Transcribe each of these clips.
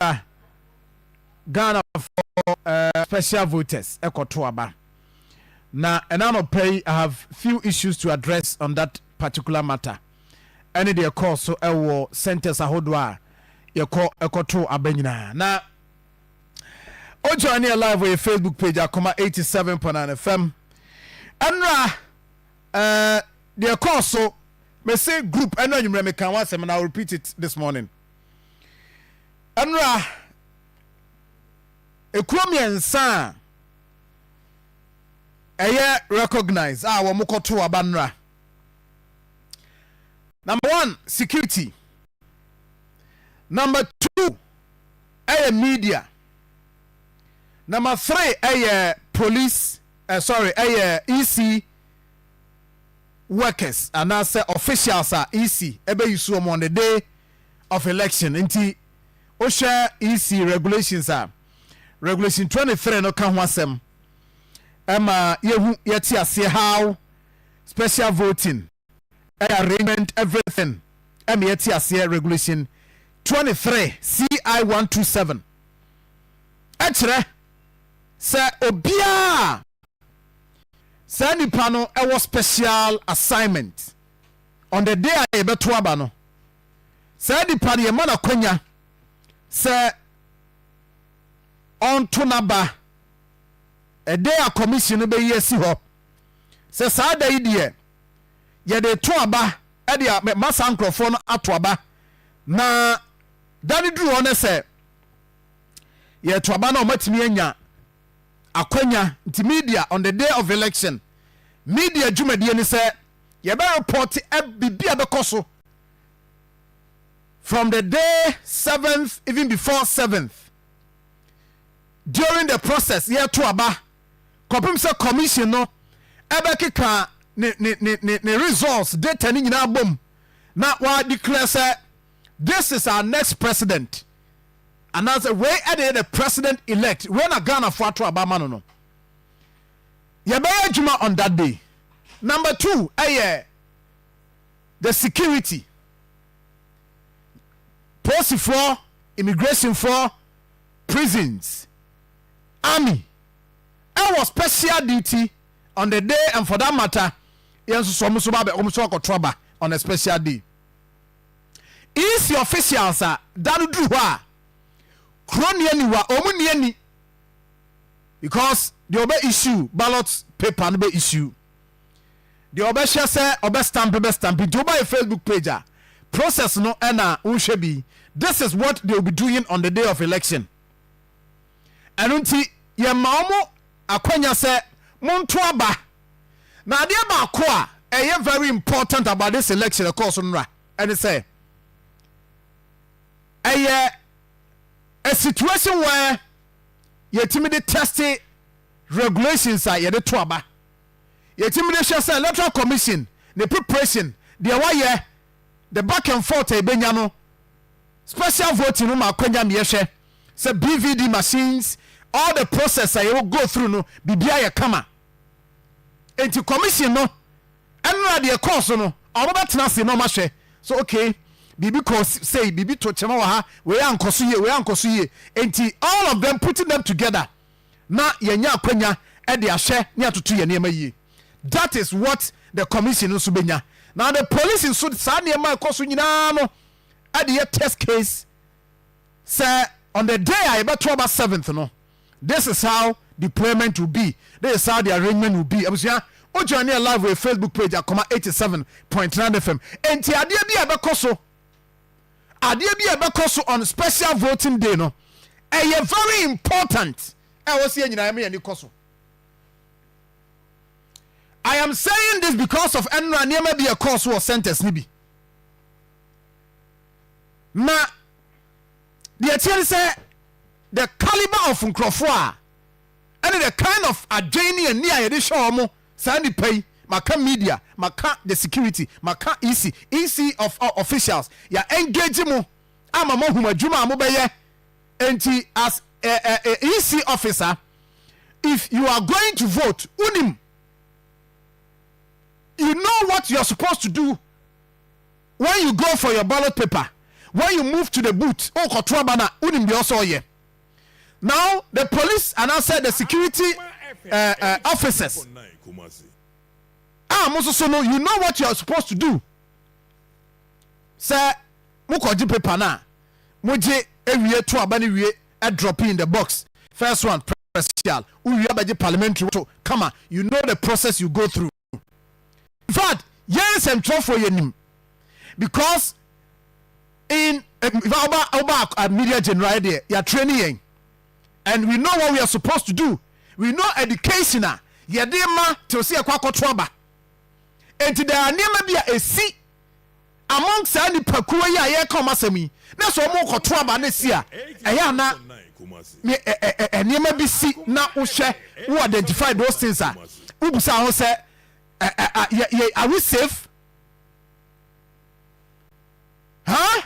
a Ghanafoɔ uh, special voters ɛkɔto aba na ɛna anɔpa yi I have few issues to address on that particular matter ɛne deɛ ɛkɔɔ so ɛwɔ centers ahodoɔ a yɛkɔ ɛkɔto aba nyinaa na o join yɛ live wɔ yɛ Facebook page akoma 87.9 FM ɛnora uh, deɛ ɛkɔɔ so mese group ɛno anwummerɛ meka ho asɛm na I will repeat it this morning Ɛnora, ɛkuo mmiɛnsa a ɛyɛ recognized a wɔn kɔto aba nnora. Number one, security. Number two, ɛyɛ media. Number three, ɛyɛ police, uh, sorry, ɛyɛ EC. workers anaasɛ officials a EC bɛyi so wɔn on the day of election nti wohwɛ EC regulations a, regulation twenty three no ka ho asɛm ɛma yɛhu yɛte aseɛ how special voting ɛyɛ arrangement everything ɛma yɛte aseɛ regulation twenty three CI one two seven ɛkyerɛ sɛ obiara Saa nipa no wɔ special assignment on the day a yɛbɛto aba no. Saa nipa no yɛma no akwanya sɛ ɔnto n'aba ɛdɛ a commission no bɛyi asi hɔ sɛ saa da yi deɛ yɛde to aba ɛde ma saa nkurɔfoɔ no ato aba na da no duru hɔ no sɛ yɛto aba no a wɔatumi anya akwanya nti media on the day of election media dwumadie ne sɛ yɛbɛ report biribi a bɛkɔ so from the day seventh even before seventh during the process yɛto aba kɔpem sɛ commission no ɛbɛkeka ne ne ne ne results data ne nyinaa bom na wɔadeclare sɛ This is our next president anaasɛ wei ɛna yɛ the president elect wei na Ghanafoɔ ato aba ama no no yɛbɛyɛ adwuma on that day number two ɛyɛ the security polisifoɔ immigrationfoɔ prisons army ɛwɔ special duty on the day and for that matter yɛn nso so wɔn nso ba bɛ wɔn nso akɔto aba on a special day. EC officials a da no duru hɔ a kuro ni ani wa wɔn ni ani because deɛ ɔbɛ issue ballot paper no bɛ issue deɛ ɔbɛhwɛ sɛ ɔbɛ stamp bɛ stamp nti woba yɛ Facebook page a process no ɛna wohwɛ bi this is what they will be doing on the day of election ɛno nti yɛma wɔn akwanya sɛ monto aba. Na adeɛ baako a ɛyɛ very important about this election ɛkɔɔ so nnora ɛne sɛ ɛyɛ a situation where yɛtumi de teste regulations a yɛde to aba yɛtumi de hwɛ sɛ electoral commission ne preparation deɛ wayɛ the back and forth a ɛbɛnya no special voting no ma akwanya ma yɛhwɛ sɛ bvd machines all the process a yɛwɔ go through no biribiara yɛ kama Enti commission no, ɛnora deɛ ɛkɔɔ so no, wɔbɛtena ase na wɔahwɛ so okay, biribi kɔɔ sei, biribi to kyema wɔ ha, wei ankɔ so yie, wei ankɔ so yie. Enti all of them putting them together na yɛanya akwanya de ahwɛ ne atoto yɛn nneɛma yie. That is what the commission no nso bɛnya. Na the police nso saa nneɛma a ɛkɔ so nyinaa no de yɛ test case sɛ on the day a yɛbɛto aba seventh no, This is how deployment will be, this is how the arrangement will be. Abusua, wo join yɛ live wɔ Facebook page Akoma 87.9 FM. Enti adeɛ bi a ɛbɛkɔ so, adeɛ bi a ɛbɛkɔ so on special voting day no, ɛyɛ very important. Ɛwɔ sɛ yɛn nyinaa yɛn ani kɔ so. I am saying this because of ɛnura nneɛma bi ɛkɔɔ so wɔ centers ni bi. Na Deɛ ɛteɛ ne sɛ the calibre of nkurɔfoɔ a ɛne the kind of adwene ne ani a yɛde hwɛ wɔn saa nnipa yi, maka media, maka the security, maka EC, EC of officials, yɛ engage mo ama mo ahum adwuma a mobɛyɛ nti as a, a, a EC officer if you are going to vote wonim you know what you are supposed to do When you go for your ballot paper, when you move to the booth, o kɔ to aba na, wonim deɛ ɔsɛ ɔyɛ. Now the police anaasɛ the security uh, uh, officers a mo soso no, you know what you are supposed to do. Sɛ mo kɔ gye paper na, mo gye ewie to aba ne wie, drop in the box. First one, presidential, wowie abɛgye parliamentary to, kama, you know the process you go through. in fact yɛn nsɛmtwerɛfoɔ yɛnim because in ɔba ɔba media general deɛ yɛatrɛ ne yɛn and we know what we are supposed to do we know education a yɛde ma te sɛ yɛkɔ akɔto aba nti there are nneɛma bi a ɛsi Among saa nnipakuo yi a yɛreka wɔn asɛm yi, na sɛ wɔrekɔto aba no si a, ɛyɛ a na ne ɛ ɛ ɛ nneɛma bi si na wohwɛ, wo identify those things a, wobisa ho sɛ, ɛ ɛ a, yɛ yɛ are we safe? Huh?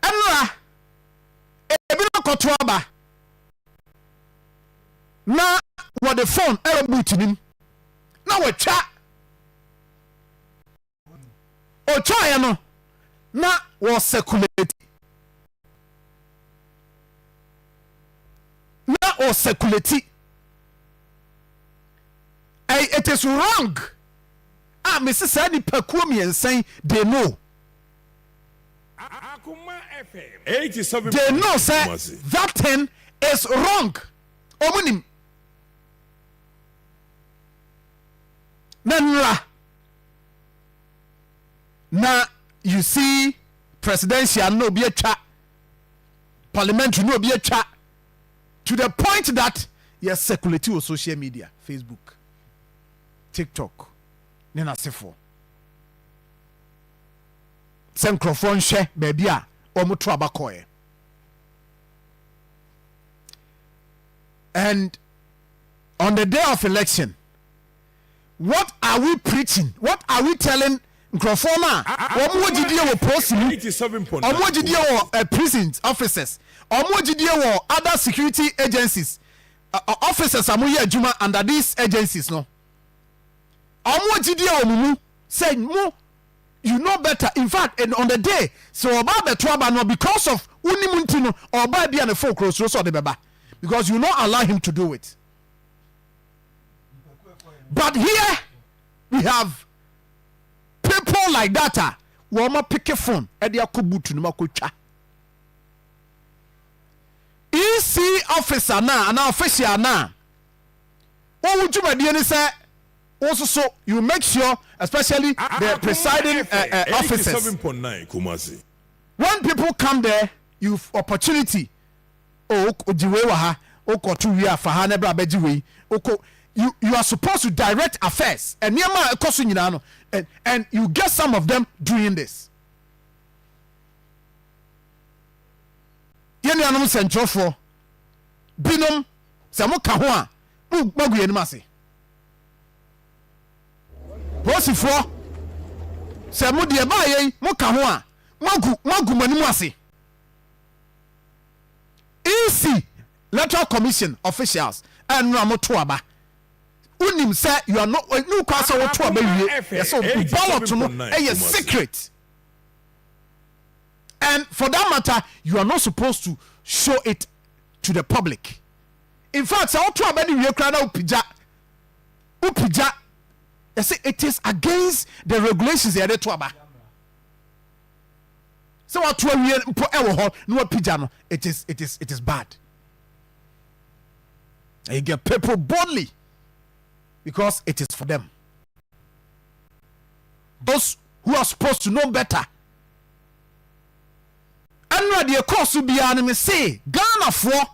Ɛnora, ebinom kɔto aba na wɔde phone ɛwɔ boot no mu na wɔatwa Ɔtwaeɛ no, na wɔsɛkuleti. Na wɔsɛkuleti. It is wrong a mesi saa nipakuo mmiɛnsa yi they know. They know sɛ that thing is wrong. Wɔn nim. Na nnora na you see presidential na obi atwa parliamentary na obi atwa to the point that yɛ circulate wɔ social media facebook tiktok ne n'asefoɔ sɛ nkurɔfoɔ nhwɛ baabi a wɔn to aba kɔɛ and on the day of election What are we preaching? What are we telling nkurɔfoɔ no a wɔn wɔ gyidie wɔ polsi mu, wɔn wɔ gyidie wɔ eh, prison officers, wɔn wɔ gyidie wɔ other security agencies, uh, officers a moyɛ adwuma under these agencies no, wɔn wɔ gyidie wɔ mo mu sɛ mo you know better in fact and on the day sɛ ɔba abɛto aba no because of wonim nti no ɔba bi a ne fo korɔ suro sɛ ɔde bɛba because you no allow him to do it. but here we have people like that a wɔn apeke phone ɛde akɔ butu no mu akɔtwa ec officer no a anaa official no a wɔwo dwumadie no sɛ wososo you make sure especially the presiding uh, uh, officers when people come there you opportunity Oh ok ogye wei wɔ ha ok ɔto wie a fa ha na bra bɛgye wei ok you you are supposed to direct affairs nneɛma a ɛkɔ so nyinaa no and and you get some of them doing this yɛn nuanom nsɛntwerɛfoɔ binom sɛ mo ka ho a mo magu yɛn anim ase polisifoɔ sɛ mo deɛ baayɛ yi mo ka ho a magu magu mo anim ase. EC, Electoral Commission officials a nnora mo to aba. Wo nim sɛ you are not, ɛnni wo kwan sɛ wo to aba wie, yɛ sɛ wo ballot no yɛ secret. And for that matter, you are not supposed to show it to the public. In fact, sɛ wo to aba no wie koraa na wo pigya, wo pigya, yɛ sɛ it is against the regulations yɛde to aba. sɛ wato awie mpo wɔ hɔ na wapigya no it is it is it is bad and you get people boldly because it is for them those who are supposed to know better ɛnna deɛ ɛkɔɔ so biara no me se ghanafoɔ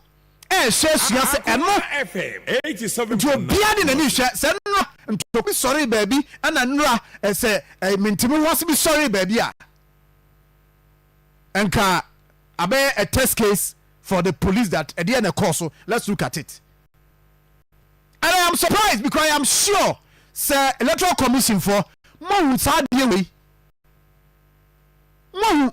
rehwɛ asua sɛ ɛno nti obiara de n'ani hwɛ sɛ nnora ntokuru sɔree baabi ɛna nnora sɛ mintimi ho ase bi sɔree baabi a nka abɛyɛ a test case for the police that ɛdeɛ na ɛkɔɔ so let's look at it and I am surprised because I am sure sɛ electoral commission fɔ mohu saa adeɛ wei mohu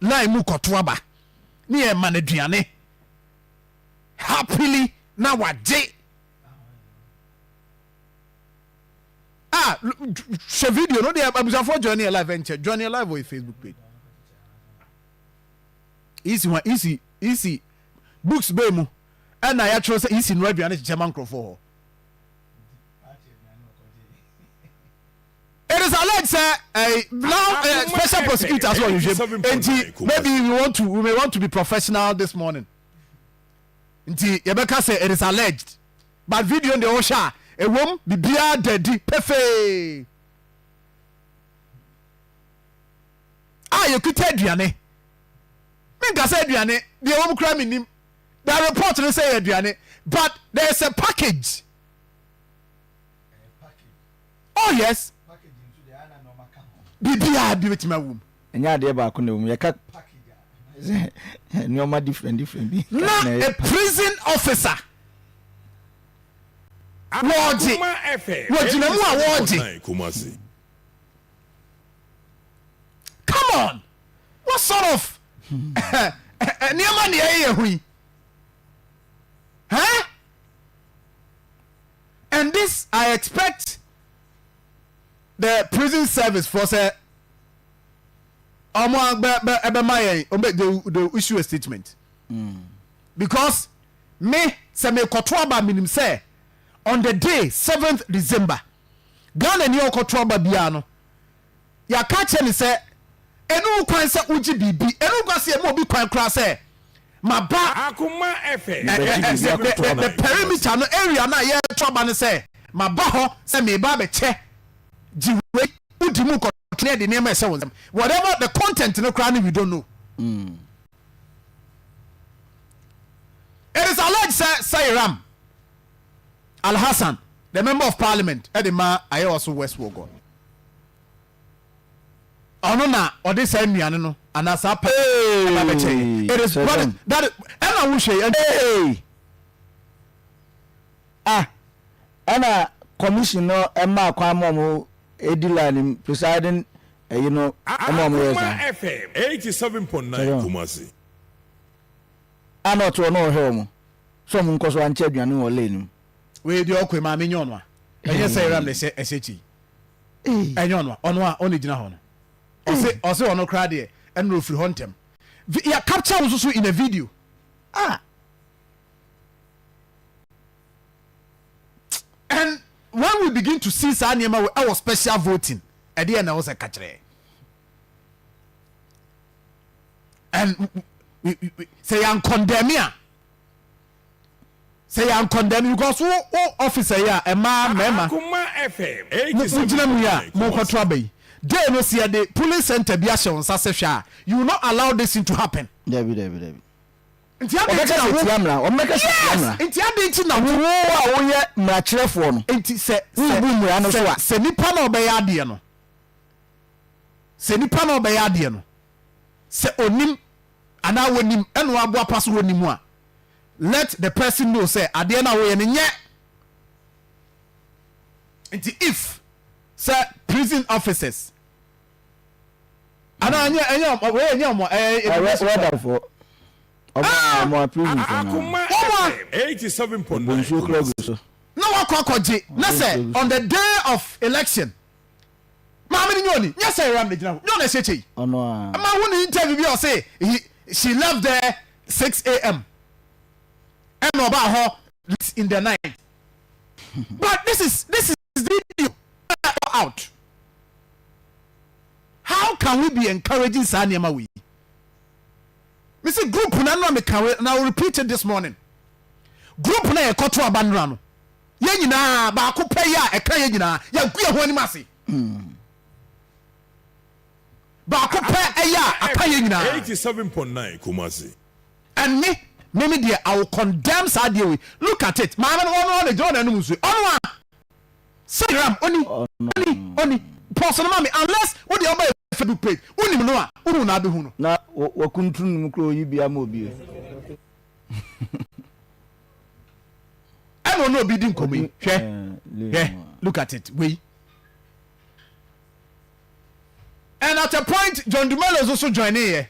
Line mu kɔto aba ne yɛ ma no aduane happily na wagye a ah, hyɛ video no deɛ abusuafoɔ join yɛ live ɛnkyɛ join yɛ live wɔ yɛ facebook page isi wa isi isi books bɛɛ mu ɛna yɛatwerɛ sɛ isi nura aduane kyekyɛ ma nkurɔfoɔ hɔ It is alleged sɛ eh, now eh, special prosecutors wɔ nhwehwɛm nti maybe we want to we may want to be professional this morning nti yɛbɛka sɛ it is alleged but video deɛ wohwɛ a ɛwom biribiara da adi pefee a yɛkuta aduane menka sɛ aduane deɛ wɔm kora mennim the report no sɛ yɛ aduane but there is a package Oh yes, biribiara bi bɛtumi awom. Ɛnyɛ adeɛ baako na ɛwom, yɛka nneɛma different different bi. Na a prison officer wɔɔgye wɔgyina mu a wɔɔgye. Come on, what sort of nneɛma na yɛyɛ ho yi? and this I expect the prison service foɔ sɛ ɔmo bɛ bɛ ɛbɛma yɛn ɔmo bɛ they they issue a statement mm. because me sɛ me kɔto aba minim sɛ on the day seventh December Ghana ni ɔkɔto aba biara no. yɛaka akyerɛ no sɛ ɛno ho kwan sɛ wogye biribi, ɛno ho kwan sɛ yɛma obi kwan koraa sɛ maba a, the perimeter no, area no a yɛreto aba no sɛ maba hɔ sɛ mereba abɛkyɛ, gye wei, wodi mu nkɔtɔ ne ɛde nneɛma ɛhyɛ wo nsam, whatever the content no koraa no we don't know. Mm. It is alleged sɛ Sairam Alhassan, the Member of Parliament de ma Ayewaso West Wuogon. Ɔno na ɔde saa nnuane no anaa saa pa ba bɛkyɛ yɛ. It is what is that ɛna wo hwɛ yɛ. Ah, ɛna commission no ɛma kwan ma ɔmo edi line mu presiding ɛyi no ɛma ɔmo yɛ saa. Akoma FM eighty seven point nine Kumasi. a na ɔtse hɔ na ɔrehwɛ wɔn sɛ wɔn nkɔ so ankyɛ aduane wɔ lane mu. Wei deɛ ɔkɔe maame nyɛ ɔno a ɛnyɛ sɛ yɛram na ɛsɛ ɛsɛ kyi ɛnyɛ ɔno a ɔno a ɔna gyina hɔ no ɔse ɔse ɔno koraa deɛ ɛnna ofiri hɔ ntɛm vi yɛ capture wo nso so in a video ah and when we begin to see saa nneɛma wɔ ɛwɔ special voting ɛdeɛ na ɛwɔ sɛ kakyerɛ and we, we, we, sɛ yɛn kɔndɛmi a sɛ yɛn kɔndɛmi because wo wo officer yi a ɛmaa mmarima mo gyina mu yi a mo kɔto aba yi day no sɛ yɛde polling center bi ahyɛ wɔn nsa sɛ hwɛ a you will not allow this thing to happen. dabi dabi dabi. nti adi nti na wo tia mra wɔn bɛka sɛ tia mra yes nti adi nti na wo wo a woyɛ mmarakyerɛfoɔ no nti sɛ sɛ wobu mmara no so a sɛ nipa na ɔbɛyɛ adeɛ no sɛ nipa na ɔbɛyɛ adeɛ no. sɛ onim anaa wɔnim ɛna wɔaboa pa so wɔ ne mu a, let the person know sɛ adeɛ no a woyɛ no nyɛ nti if sɛ prison officers anaa nyɛ ɛnyɛ wɔyɛ nyɛ wɔn ɛyɛ ɛdɔmɛsofo wɔn a prison fo no wɔn a wɔn nsuo kura gu so na wakɔ akɔgye na sɛ on the day of election Maame no nyɛ ɔni? Nyɛ sɛ Ram na gyina hɔ. Nyɛ ɔna ɛsɛ kyɛ yi? Ɔno a. Ɛma ho ne interview bi a ɔse he she left there six am ɛna ɔbaa hɔ late in the night but this is this is video na ɛwɔ out how can we be encouraging saa nneɛma wei me se group na no a meka wei na I will repeat it this morning group na yɛkɔto abanora no Yɛn nyinaa, baako pɛ yi a ɛka yɛn nyinaa, yɛagu yɛn ho anim ase. Baako pɛ ɛyɛ a aka yɛn nyinaa. Eighty seven point nine Kumasi. Ɛnne, me me deɛ I will condemn saa adeɛ wei, look at it, maame no ɔno ara na gyina hɔ na ɛnom nsuo yi, ɔno ara, sɛ ram, ɔni, ɔni, ɔni, pause no ma me, unless wo deɛ ɔba yɛ Facebook page, wonim no a, wohu no abɛhu no. Na wakuntunu ne mu koraa ɔyi bi ama obi o. ɛna ɔne obi di nkɔmɔ yi hwɛ hwɛ look at it wei and at a point john dumelo nso so join ne yɛ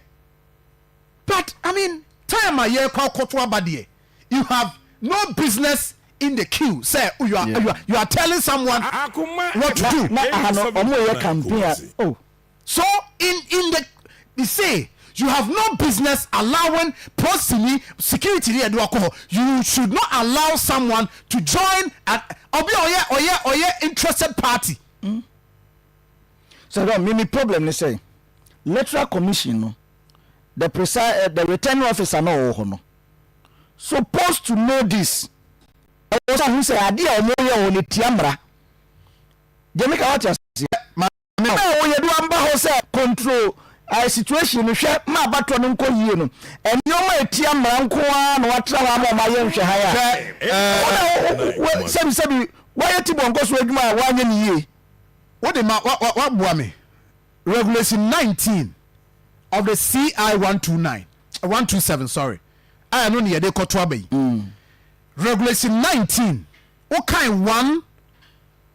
but i mean time a yɛ kɔ akɔto aba deɛ you have no business in the queue sɛ you are yeah. you are you are telling someone ah, ah, what to do. na aha no ɔmo yɛ campaign a oh. So in in the they say you have no business allowing prosini security ni ɛde wakɔ hɔ you should not allow someone to join an ɔbi a ɔyɛ ɔyɛ ɔyɛ interested party. sɛ dɛ mimi problem ne sɛ electoral commission no the presi eh, the returning officer na ɔwɔ hɔ no supposed to know this ɛwɔ sɛ ɔhu sɛ adeɛ a wɔyɛ wɔ no tia mmara deɛ meka wate aseɛ ma Ɔno a ɔyɛ do amba hɔ sɛ control situation no hwɛ ma abatoɔ no nkɔ yie no, nnoɔma a ɛtia mmara nko ara na wɔatra hɔ ama wɔayɛ nhwɛhan a wo na wo sɛbi sɛbi woayɛ tibɔ nkɔ so adwuma a woanyɛ no yie. Wo de ma woaboa me. Regulation nineteen of the CI one two nine, one two seven sorry, a ɛno na yɛde rekɔto aba yi. Regulation nineteen, wokan one.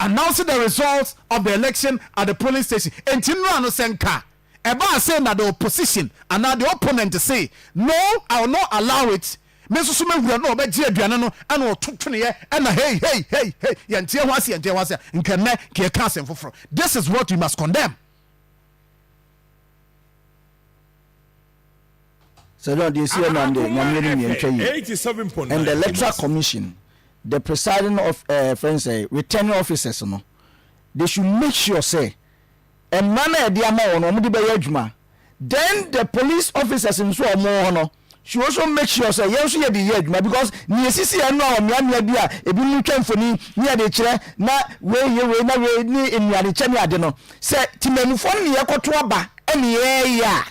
announce the results of the election at the polling station enti nnora no sɛ nka ɛbaa sei na the opposition anaa the opponent se no I will not allow it me nso so mɛwura na ɔbɛgye aduane no ɛna ɔto tweneɛ ɛna hei hei hei hei yɛnteɛ ho ase yɛnteɛ ho ase a nka nnɛ nka yɛka asɛm foforɔ this is what we must condemn. Sɛ John, deɛ ɛsi yɛ nam deɛ Nyame anim yɛ ntwa yie. And the electoral commission, the presiding of ɛɛ eh, friends ɛɛ eh, returning officers no, they should make sure sɛ mmara no a yɛde ama wɔn no wɔn de bɛyɛ adwuma. Then the police officers nso a wɔn hɔ no should also make sure sɛ yɛn nso yɛde yɛ adwuma because nea esisi yɛn no a ɔmeamea bi a ebi mu twa mfoni ne yɛde kyerɛ na wei yɛ wei na wei ne nnuane kyɛ ne ade no sɛ temamufoɔ no ne yɛkɔto aba ɛne yɛyɛ a.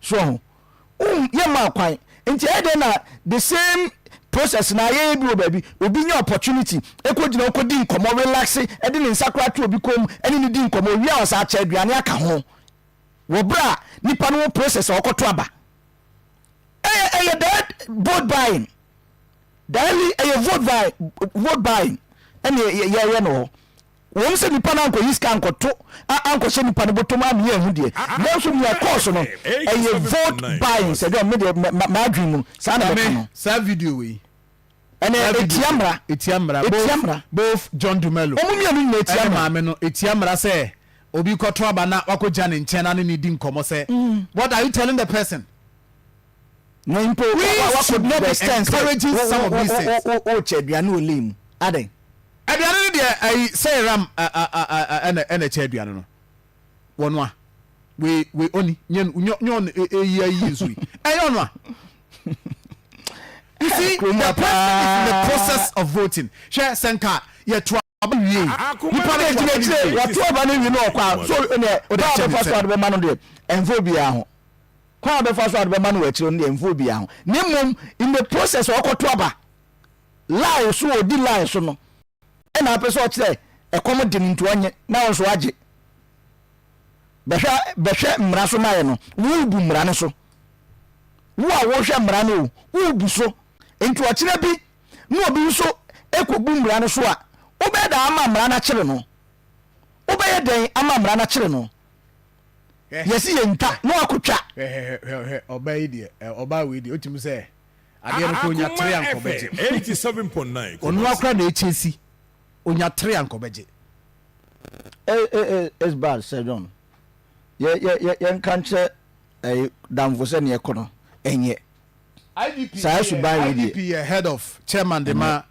So ɔho? Wohu, yɛmmaa kwan. Nti ɛyɛ dɛn na the same process na ayɛyɛ bi wɔ baabi, obi nya opportunity, ɛkɔ gyina hɔ kɔ di nkɔmɔ, relaxe, ɛde ne nsa koraa to obi kɔn mu, ɛne no di nkɔmɔ, owie a wɔsan akyɛ aduane aka ho. Wɔ berɛ a nipa no wɔ process a ɔkɔto aba. Ɛyɛ, ɛyɛ that vote buying. Daily, ɛyɛ vote buying, vote buying. Ɛne yɛyɛ no hɔ. Ɛwom sɛ nnipa no ankɔyi sika ankɔto a ankɔhyɛ nnipa no bɔtɔ mu a meyɛ ahu deɛ, nanso nea ɛkɔɔ so no, ɛyɛ vote buying, sɛ dwom, me deɛ m'adwene mu no, saa na mɛka no. Maame, saa video wei. Ɛnɛ, ɛtia mmara. Ɛtia mmara. Ɛtia mmara. Both John Dumelo. Wɔn mmienu nyinaa ɛtia mmara. Ɛne maame no, ɛtia mmara sɛ obi kɔto aba na wakɔgya ne nkyɛn na ne ne di nkɔmmɔ sɛ, what are you telling the person? Na mpo, we should not be encouraging some of these things. Wokyɛ aduane wɔ lane mu, adɛn? Aduane no deɛ ayi sɛ ram ɛna ɛna ɛkyɛ aduane no wɔ noa we we ɔni nyɛ nyɔ nyɔ eyi ayi nso yi ɛyɛ ɔnoa you see the problem is in the process of voting hwɛ sɛ nka yɛ to aba wie nipa no gyina gyina wɔto aba no wie no ɔkwa so ɛnɛ ɔde akyɛ ne sɛ ɔbɛma no deɛ ɛnfo biara ho kwan a ɔbɛfa so a ɔbɛma no wɔ akyire no deɛ ɛnfo biara ho ne mmom in the process ɔkɔto aba line so ɔdi line so no ɛna apɛ sɛ ɔkyerɛ ɛkɔm de no nti ɔnye na ɔnso agye bɛhwɛ bɛhwɛ mmara so mayɛ no worebu mmara no so wo a wohwɛ mmara no o worebu so nti ɔkyerɛ bi na obi nso ɛkɔbu mmara no so a wobɛyɛ dɛn ama mmara no akyere no wobɛyɛ dɛn ama mmara no akyere no yɛsi yɛntwa na wakɔtwa ɔbaa yi deɛ ɔbaa wei deɛ ɔtumi sɛ Adeɛ no koraa onya tere a nka ɔbɛgye. Ɔno ara koraa na ɛkyɛ si, onya tere a nka ɔbɛgye. It's bad Sir John. Yɛnka nkyerɛ damfo sɛ neɛ ɛkɔ no ɛnyɛ. Saa suban wei deɛ. IGP yɛ head of chairman de ma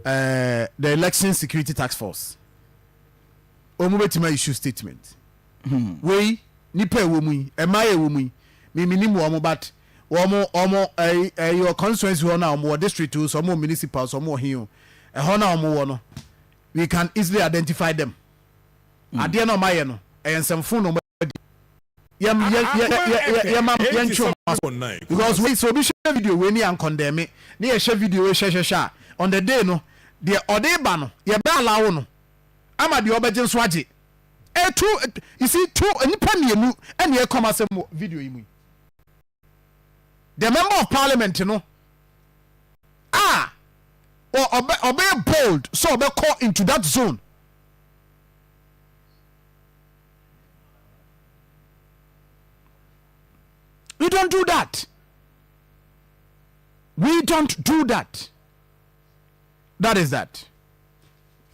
the election security task force. Wɔn bɛtumi a issue statement. Wei nipa ɛwɔ mu yi, ɛmaa yɛ ɛwɔ mu yi, me menim wɔn but. Wɔn wɔn ɛyi ɛyi wɔ constituency hɔ no a wɔn wɔ district o so wɔn wɔ municipal so wɔn wɔ he o ɛhɔ no a wɔn wɔ no we can easily identify them mm. adeɛ na wɔn ayɛ no ɛyɛ nsɛmfo na wɔn adi yɛ yɛ yɛ yɛ yɛ ma yɛ ntwi wɔn aso because wei sɛ obi hyɛ video wei ni ankɔndɛmi ne yɛ hyɛ video wei hyɛhyɛhyɛ a on the day no deɛ ɔde ba no yɛ bɛ alawo no ama deɛ ɔbɛgye nso agye ɛtu you see two nipa mmienu ɛna ɛkɔm asɛm wɔ video yi mu yi. the member of parliament no a ɔbɛ ɔbɛyɛ bold sɛ ɔbɛkɔ into that zone we don't do that we don't do that that is that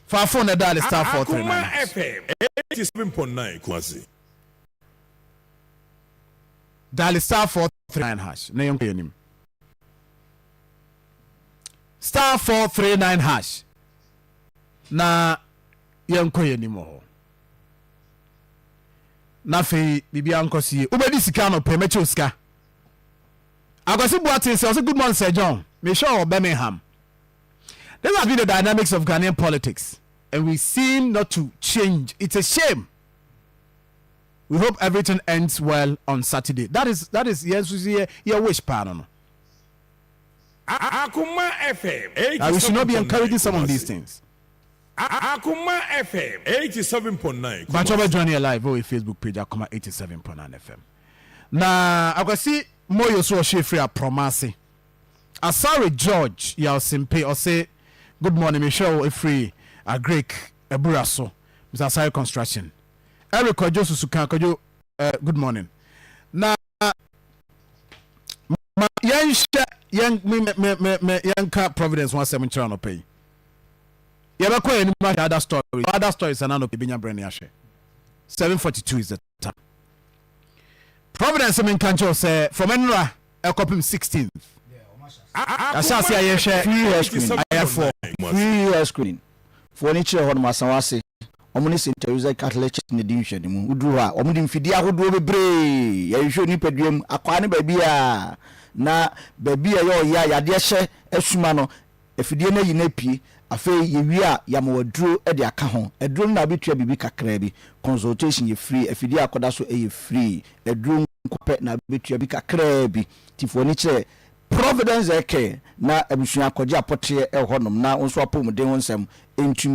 faafo na ɛda ale star four three nine. Akoma FM eighty seven point nine Kumasi. Dale star four three nine hash na yɛn kɔ yɛn anim. Star four three nine hash na yɛn kɔ yɛn anim wɔ hɔ. Na afei biribi ankɔ so yie. Wobɛdi sika no pɛ mɛkyɛw sika. Akwasi Boateng sɛ ɔsɛ good morning Sir John. Mehwɛ wɔ Birmingham. This has been the dynamics of Ghanaian politics and we seem not to change. It's a shame. we hope everything ends well on saturday that is that is yɛn nso yɛ yɛ wish paa no no. Akuma FM eighty seven point nine Kumasi. we should not be encouraging some of these things. Akuma FM eighty seven point nine Kumasi. bàtchọ bẹ join yẹ live wọ yẹ facebook page Akuma eighty seven point nine FM na akwasi moyo so ọhyẹ efiri aprọma ase asare george yausimpe ọsẹ good morning mi hwẹ ọ efiri agric Abura so, Mr Asare construction. Eric Kwadwo Susuka Kwadwo eh, good morning. Na ma yɛnhyɛ yɛn me me me me yɛnka Providence ho asɛm nkyerɛ anɔpa yi. Yɛbɛkɔ yɛn anim ahwɛ other stories, other stories anaa anɔpa yɛbɛnya berɛ ne ahwɛ. 7:42 is the ta. Providence menka nkyerɛ wo sɛ from ɛnora ɛkɔpem 16th yɛahyɛ ase a yɛhwɛ Free hair screen ayarefoɔ. Free hair screen foɔ no kyerɛ hɔ nom Asawase wɔn ne Saint Teresa Catholic Church na ɛdi nhwɛanimu. Woduru hɔ a wɔn de mfidie ahodoɔ bebree yɛhwehwɛ onipadua mu, akwaa ne baabiara na baabi a ɛyɛ ɔyea yadeɛ hyɛ asuma no Afidie no ayi na apue. Afei yɛwie a, yɛama wo aduro de aka ho. Aduro no na wobɛtua biribi kakraa bi. Consultation yɛ free. Afidie a akɔda so yɛ free. Aduro nko pɛ na wobɛtua bi kakraa bi. Nti fa w'ani kyerɛ Providence Air Care na abusua kɔgye apɔteɛ wɔ hɔnom na wo nso apɔwmuden ho nsɛm ntumi.